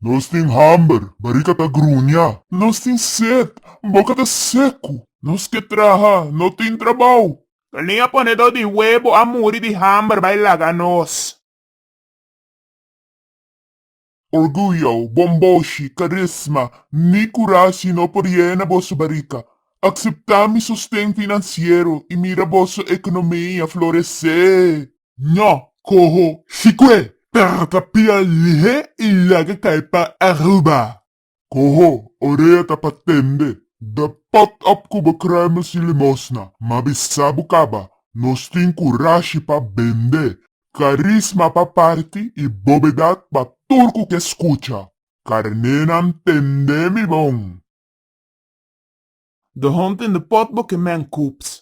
Nos tin hamber, barika ta gruña. Nos tin set, boka ta seku. Nos ke traha, no tin trabou. Galinha ponedor di webo a muri di hamber bai laga nos. Orguyo, bomboshi, karisma, ni kurashi no por yena boso barika. Akseptá mi sosten finansiero i mira boso ekonomia floresé! Njo, coho Chicue, perro ta pia lihe y laga cay pa Aruba. Coho, orea ta pa tende, da pot op cu bo kruimels y limosna, ma bisa bo caba, nos tin curashi pa bende, carisma pa parti y bobedad pa tur cu ke scucha. Carnenan tende mi bon. The Hunting the Pot bo ke man coops.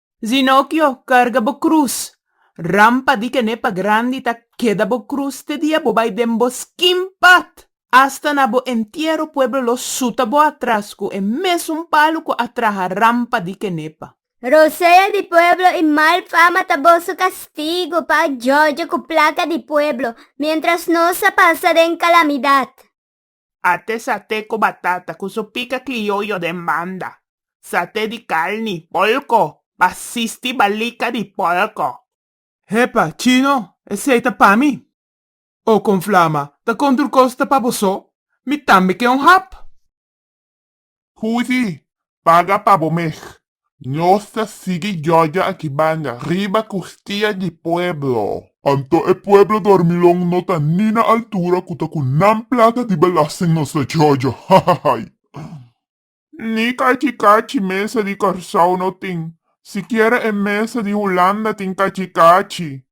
Zinokio, karga bo krus! Rampa di kenepa grandi ta keda bo krus te dia bo bai den boskin pat! Asta na bo entiero pueblo lo suta bo atras ku e mesun palu ku a traha rampa di kenepa. Rosea di pueblo i mal fama ta boso kastigu pa a jòjò ku plaka di pueblo, miéntras nos a pasa den kalamidat. Ate sate ku batata ku su pika klioyo den banda, sate di karni, porko, basisti balika di porko. Hepa, chino, esei ta pa mi? O kon flama, ta kon tur kos ta pa boso? Mi tambe ke un hap. Huzi, paga pa bo mes. Nos ta sigui Georgia aki banda, riba custia di pueblo. Anto e pueblo dormilon no ta ni na altura cu ta cu nan plata di belasting nos ta Georgia, hahahai. Ni cachi cachi mesa di Curaçao no tin. Sikiera e mesa di Hulanda tin cachi cachi.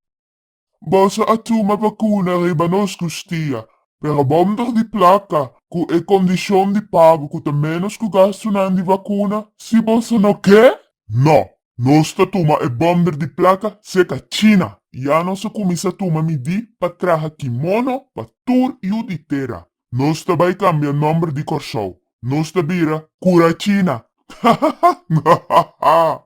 Boso a tuma bakuna riba nos kustia, pero bonder di plaka, ku e kondishon di pago ku ta ménos ku gastunan di bakuna. Si boso no ke, no. Nos ta tuma e bonder di plaka seka China. Ya nos a kuminsá tuma midí pa traha kimono pa tur yu di tera. Nos ta bai kambia nòmber di Kòrsou. Nos ta bira Kura China. Hahaha!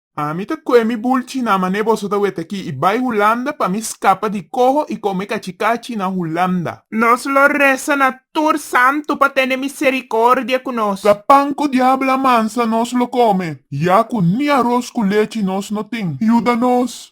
Ah, mi ta koe mi bulchi na mane boso ta wete aki i bai Hulanda pa mi skapa di koho i kome kachi kachi na Hulanda. Nos lo resa na tur santu pa tene misericordia cu nos. Ta pan cu diablo a mansa nos lo come, ya cu ni aros cu lechi nos no tin. Yuda nos,